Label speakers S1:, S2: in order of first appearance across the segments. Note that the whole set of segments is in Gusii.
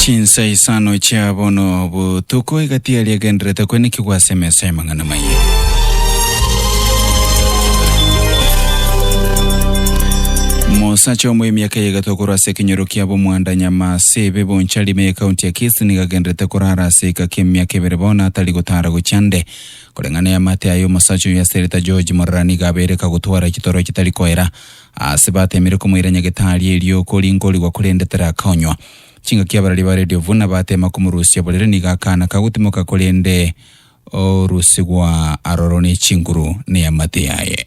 S1: Chinsa isano chia bono botuko egati yaria egenderete kwenekigwa ase emesa y'amang'ana maye. Mosacha omoy'emiaka ya egato korwa ase ekenyoro kia bomwanda nyama Sebe Bonchari me County ya Kisii nigo agenderete korara ase eka ki'emiaka ebere bono atari gotara gochia nde. Koreng'a neamate aye omosacha oyio ase reta George Morara nigo abeire kagotwara chitoro chitari koera ase batemire komoira nyagetari erio kori nkorigwa korende tarakonywa. Chingaki abarari ba Radio Vuna batema komorusia borere nigo akana kagotimoka korende orusigwa aroro ne chinguru neamate aye.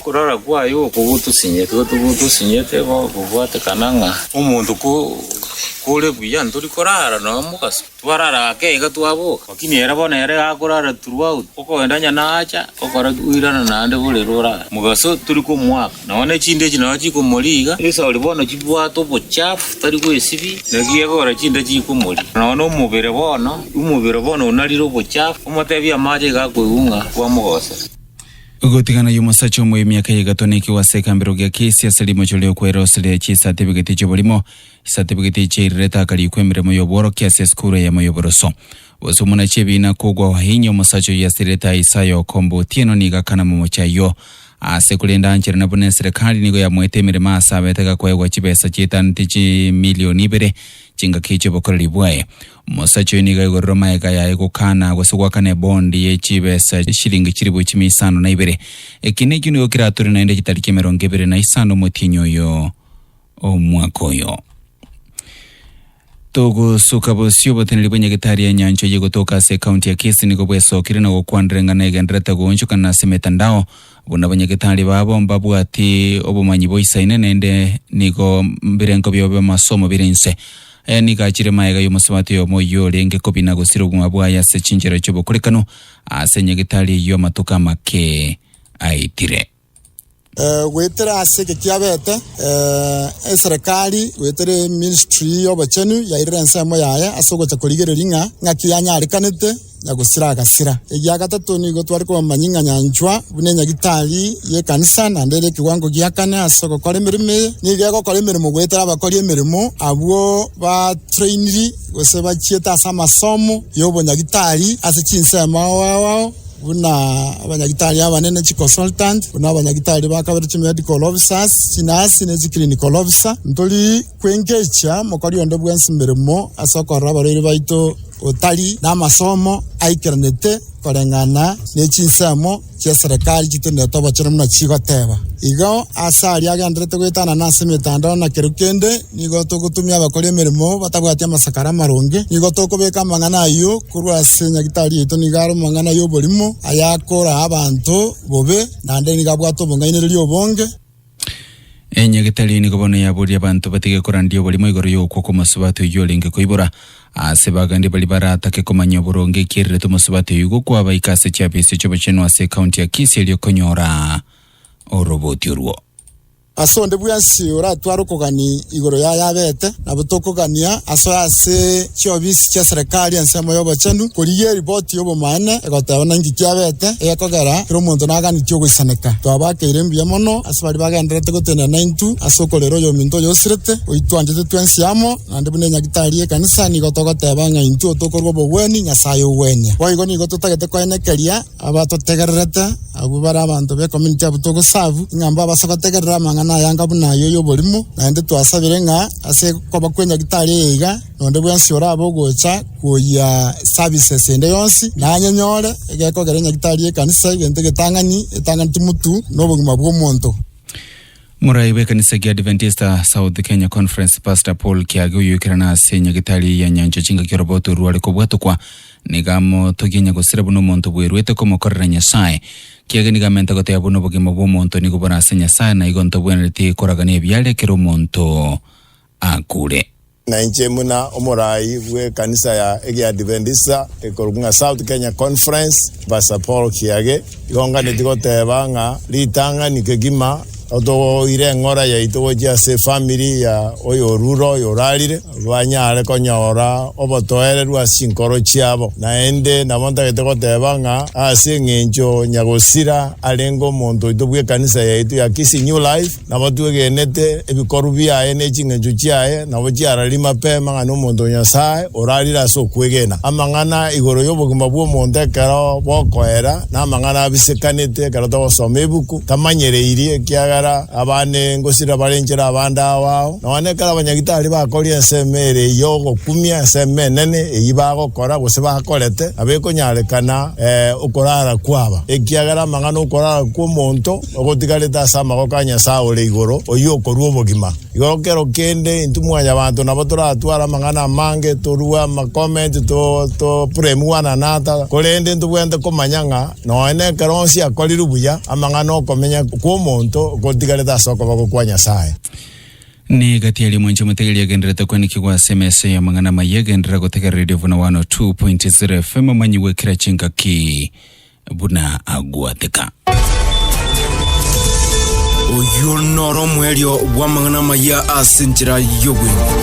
S1: Okorora kwaye oko gotosinyete, gotosinyete gokobwatekana ng'a omonto kore buya ntori korara noyo mogaso. Twarara ake iga twaboka, lakini ere bono ere iga akorara throughout, okoenda onye nacha, okoira naende bore rorare. Mogaso tori komoaka. Nonya nechinde echi nario chikomoriga. Yeso oria bono chibwate obochafu, tari gwesibi. Naki egora chinde chikomoriga. Nonya nomobere bono, omobere bono onarire obochafu, omotebi amache iga akoigung'a, bwamogosera. Gotigana y'omosacha omoyo emiaka eye egatonekigwa ase ekambero gia kesi ase rimocho ri'okwera ase ria chisatibigeti chi'oborimo, chisatibigeti chiairire takariikwa emeremo y'obworokia ase esukuru eyemo y'oboroso. Gose omuna chi'ebiina kogwa ohainye omosacha oyio asirerete aye Isaya okomba otieno nigo akanama omochie ayio aase korende aancherana buna eserekari nigo yamoete emeremo aase abete gakoegwa chibesa chiaetanete chimilioni ibere chingaki chi'obokoreri bwaye. Omosacha oyio nigo aigorerwe magega ayaye gokana gose goakana ebondi ye chibesa chi'eshilingi chilifu chimia isano na ibere. Eki nekio nigo kiratore naende chitari ki'emerongo ebere na isano omotienyi oyio. omwaka oyo. Togosuka bosio oboteneri bwa Nyagetari ya Enyancho y'Egotoka ase ekaunti ya Kisii nigo bwesokire na gokwanera eng'ana egenderete goonchokana ase emetandao. Buna banyagetari babo mbabwati obomanyi boisaine naende nigo mbirenko biabo bi'amasomo bire inse. Aya nigo achire magega y'omosabato oyomo oyio orenge kobia na gosira obogima bwaye ase chinchera chi'obokorekano ase Nyagetari eyio amatuko amake aitire. Goetera ase eke kiabete, eserekari goetera eministry y'obochenu yairire ensemo yaye ase ogocha korigereria ng'a ng'aki yanyarekanete ya gosira agasira. Egia gatato nigo tware komanya ng'a nyanchwa buna enyagitari y'ekanisa naende ere ekewango gia kane ase ogokora emeremo eye. Nigo egokora emeremo goetera abakori emeremo abwo batrainiri gose bachiete ase amasomo y'obonyagitari ase chinsemo ao ao ao. buna abanyagitari abanene, chiconsultant, buna abanyagitari ba kabere, chimedical officers, chinasi, ne chiclinical officer. Ntori kwengechia mokori onde bwensi meremo ase okorora abarwaire baito otari namasomo aikeranete koreng'ana nechinsemo chiaserekari chitenenete obochere buna chigoteba. Igo ase aria agendererete goetanana ase emetandao na kero kende. Nigo togotumia abakori emeremo batabwati amasakara amaronge. Nigo tokobeka amang'ana ayio korwa ase nyagitari yaito nigo are omong'ana y'oborimo, ayakoraa abanto bobe, naende nigo abwate obong'ainereria obonge. Enyagitari eye nigo bono yaboria abanto batige korandia oborimo igoro y'okwo kw'omosubati oyio orenge koibora. Aase bagende baria baratake komanya oboronge ekierire t'omosubati oyio igo kwabaika ase chiafisi chi'obochenu ase ekaunti ya Kisii erio konyora oroboti orwo. Ase onde bwensi oratware okogania igoro yaye abete, nabo tokogania aso ase chiofisi chi'eserekari ensemo y'obochenu, korigia eripoti y'obomaene egoteba buna inki kiabete, egekogera kera omonto naganeti ogoisaneka. Twabakeire mbuya mono ase baria bagendererete gotenena naintwe ase okorera oyominto oyo osirete, oitwanchete twensi amo, naende buna enyagitari y'ekanisa nigo togoteba ng'a intwe tokorua obogwenia Nyasae ogwenia. Boigo nigo totagete koenekeria. Abatotegererete, abwo bare abanto b'ecommunity abwo togosavu, ng'a mbabase gotegerera amang'ana ayanga buna aya y'oborimo, naende twasabire ng'a ase koba kwe nyagetari eye iga, nonde bwensi orabe ogocha koyia services ende yonsi, nanyenyore egekogera enyagetari y'ekanisa egento egetang'ani, etanganeti mutu nobogima bw'omonto. Morai bw'ekanisa ekia Adventista South Kenya Conference Pastor Paul Kiage oyoikerana ase enyagetari ya Nyancha chingaki orobao torware kobwatokwa Nigo amotogie onye gosira buna omonto bweruete komokorera Nyasae. Kiagera nigo amente goteba buna obogima bw'omonto nigo bore ase Nyasae, na igo ntobwenereti koragania ebiare ekero omonto akure. Na inche buna omoraai bw'ekanisa ya Egeadventista ekorokwa ng'a South Kenya Conference, Pastor Paul Kiage, igo nganetie goteeba ng'a ritang'ani kegima, Totogoire eng'ora yaito gochia ase efamiri ya oyorure oyo orarire, banyare konyora obotoereru ase chinkoro chiabo. Naende nabo ntagete goteba ng'a ase eng'encho Nyagosira arenge omonto oito bw'ekanisa yaito ya Kisii New Life, nabo twegenete ebikorwa biaye ne ching'encho chiaye, nabo chiararie mapema ng'a nomonto o Nyasae orarire ase okwegena. Amang'ana igoro y'obogima bw'omonto ekero bokoera. Namang'ana abisekanete, ekero togosoma ebuku tamanyereirie, ekiagera abande ngosira barenchera abande ao ao. Nonya ekero abanyagitari bakoria ensemo ere y'ogokumia, ensemo enene eyio bagokora gose bakorete, nabo ekonyarekana okorara kwaba, ekiagera amang'ana 'okorara kw'omonto ogotigarete ase amagoko a Nyasae ore igoro, oyio okorua obogima. Igoro kero kende intwe mwanyabanto nabo toratware amang'ana amange, torue amacomment, to to blame one another, korende ntobwenerete komanya ng'a nonye nekero onsi akorire buya, amang'ana okomenya kw'omonto gotigarete ase okoboko kwa Nyasae. Ne gati aria mwanche omotegeri agenderete koanikigwa ase emesa y'amang'ana amayia, genderera gotegerereria buna 102.0FM omanyigwe kera chingaki. buna agwateka. Oyio noro omwerio bw'amang'ana amaya ase enchera y'obwenene.